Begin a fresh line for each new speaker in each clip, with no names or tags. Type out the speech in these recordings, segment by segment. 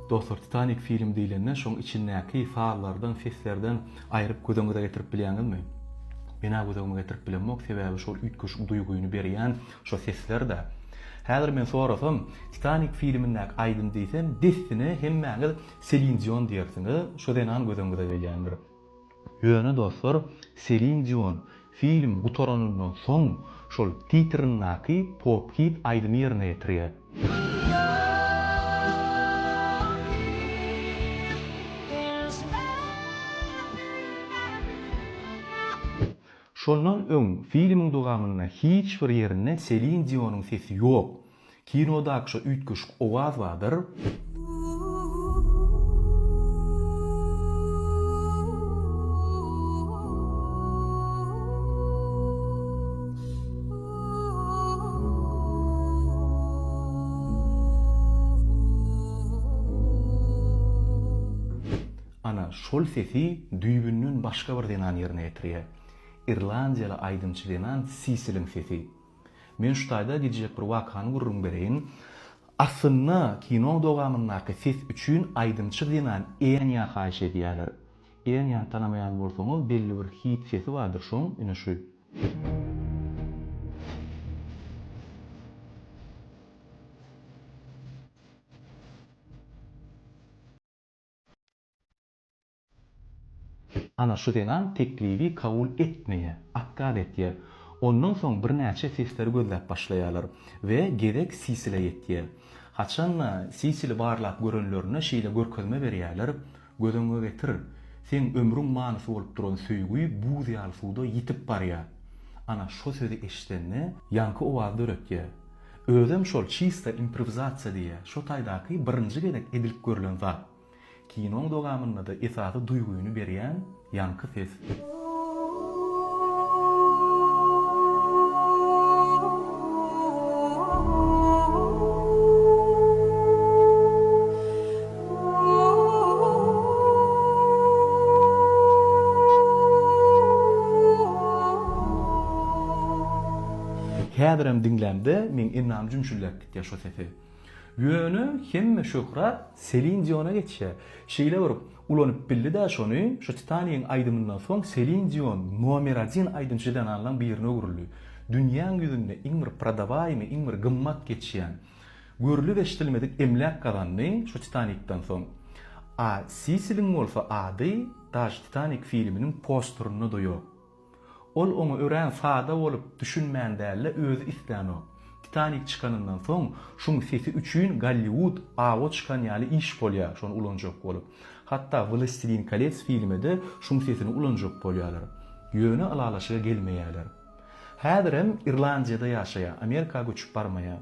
Dostlar Titanik filmi diýlende şoň içindäki sazlardan seslerden aýryp gözeňize getirip bilýäňizmi? Menä gözeňime getirip bilemok sebäbi şol üýtgeşik duýgyny berýän şo seslerdä. Häzir men sorasam Titanik filmindäki aýdym diýsem dessine hemmäňiz Selin Dion diýersiňiz şo zenan gözeňize gelýändir. Ýöne dostlar, Selin Dion film gutaranyndan soň şol titrindäki pop hit aýdymy ýerine ýetirýär. Şondan öň filmiň dowamynda hiç bir ýerinde Selin Dionyň sesi ýok. Kinodaky şo üýtgeşik owaz badyr. Ana, şol sesi düýbünden başga bir zenan ýerine ýetirýär. Irlandiýaly aýdymçy zenan Sisiliň sesi. Men şu taýda gidjek bir wakany gürrüň bereýin. Aslynda kinoň dowamyndaky ses üçin aýdymçy zenan Enya haýyş edýärler. Enyany tanamaýan bolsaňyz belli bir hit sesi bardyr şoň ine şu. Ana, şu zenan teklibi kabul etmeýär, otkaz etýär. Ondan soň birnäçe sesleri gözläp başlaýarlar we gezek Sisilä ýetýär. Haçan-da Sisili barlap görenlerinde şeýle görkezme berýärler, Göz öňüňe getir, seň ömrüň manysy bolup duran söýgi buz ýaly suwda ýitip barýar. Ana, şo sözi eşidende ýaňky owaz döretýär. Özem şol çista improwizasiýa diýýär, şo taýdaky birinji gezek edilip görlen zat. Kinoň dowamynda-da esasy duýgyny berýän ýaňky ses. Häzirem diňlämde meň ennam jümşüldäp gitýär şo sesi. Ýöne hemme şöhrat Selin Diona geçýär. Şeýle bir ulanyp bildi-dä şony, şu Titanigiň aýdymyndan soň Selin Dion nomer adin aýdymçy zenanlaň birine öwrüldi. Dünýäň ýüzünde iň bir prodawaýmy, iň bir gymmat geçýän, görlüp-eşdilmedik emläk gazandy şu Titanikden soň. A Sisiliň bolsa ady daş Titanik filminiň posterinde-de ýok. Ol oňa örän sada bolup, düşünmän däl-de, özi islänok. Titanik çykanyndan soň, şuň sesi üçin Golliwud awa çykan ýaly iş bolýar, şony ulanjak bolup. Hatda Wlastilin kolets filmede şuň sesini ulanjak bolýarlar. Ýöne ylalaşyga gelmeýärler. Häzirem Irlandiýada ýaşaýar, Amerika göçüp barmaýar.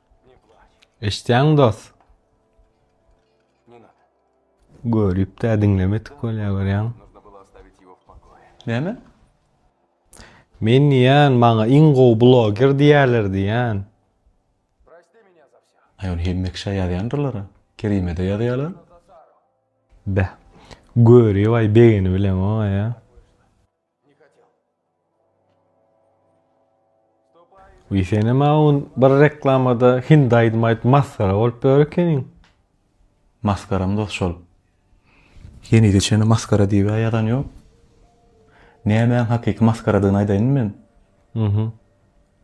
Eşitýäňmi dost? Görüp-de diňlemedik bolýar görýäňmi? Näme? Men diýýän, maňa iň gowy bloger diýýärler diýýän.
Aý ony hemme kişä ýazýandyrlar-a. Kerime-de ýazýarlar.
Beh. Görübaý begeni bileňok-aý-a. Uý senem aun bir reklamada hindi aýdym aýdyp masgara bolup ýör ekeniň.
Maskaram dos şol. Henize çenli maskara diýibä ýazan ýok. Nämäň hakyky maskaradygyny aýdaýynmy men? Mhm.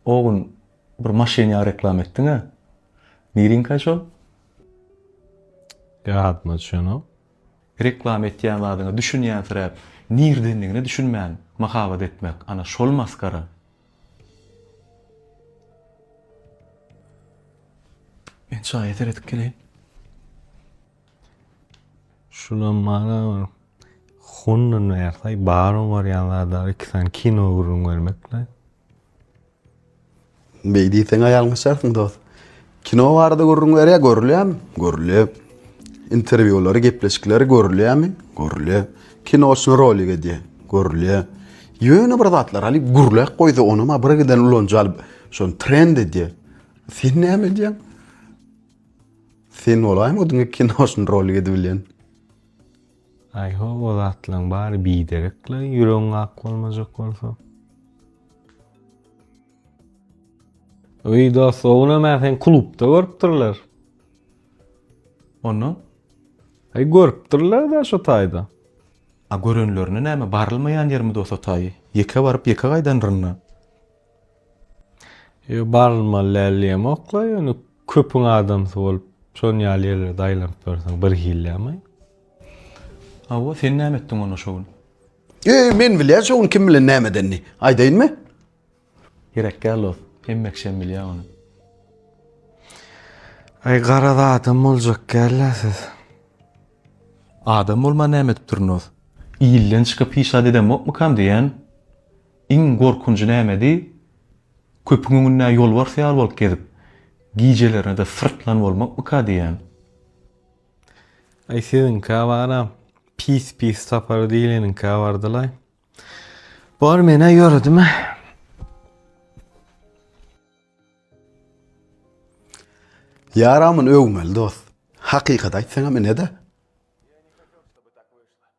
O gün bir maşynyňa reklama etdiňä. Niriňkaý şol?
Ýadyma düşenok. Reklama
etýän zadyňa düşünýänsiräp, nirdendigine düşünmän mahabat etmek, ana, şol masgara. Men çaýa seredip geleýin.
Şulam mana bir hundan bärsaý bar oňarýan zadlary iki sany kino gürrüň bermekle.
Beý diýseň ýalňyşarsyň dost. Kino barada gürrüň berýär, görülýärmi? Görülýär. Interwýulary, gepleşikleri görülýärmi? Görülýär. Kino üçin rolik edýär. Görülýär. Ýöne bir zatlar alyp gürläp goýsa, ony ma bir giden ulanyjy alyp, şony trend edýär. Sen näme edýäň? Sen bolaýma o diňe kino üçin rolik edip bilýän.
Aý how o zatlaň bary biderek la ýüregiň ak bolmajak bolsa. Öý dost ownam a sen klubda görüpdirler.
Ondan? Aý
görüpdirler da şu taýda. A
görenlerine näme barylmaýan ýermi dost o taýy? Ýeke baryp ýeke gaýdanrynda.
Yo barylmaly däl diýemokla, ýöne köpüň adamsy bolup, şon ýaly ýerlerde aýlanyp ýörseň bir hillämi?
Hawa, sen näme etdiň onda şo gün? Eý, men
bilýän şo gün kim bilen näme edenini. Aýdaýynmy?
Gerek däl dost, hemme kişem bilýä ony.
Aý, garaz adam boljak däl-ä siz.
Adam bolman näme edipdirin dost? Ilden çykyp hiç zat edemokmykam diýýän. Iň gorkunjy nämedi, köpüň öňünde ýolbars ýaly bolup gezip, gijelerine-de syrtlan bolmakmyka diýýän.
Aý siziňkä baram, pis-pis tapar diýleniňkä bardylaý. Bor men-ä ýöredim-ä.
Ýaramyny öwmeli dost. Hakykaty aýtsaňam ine-dä.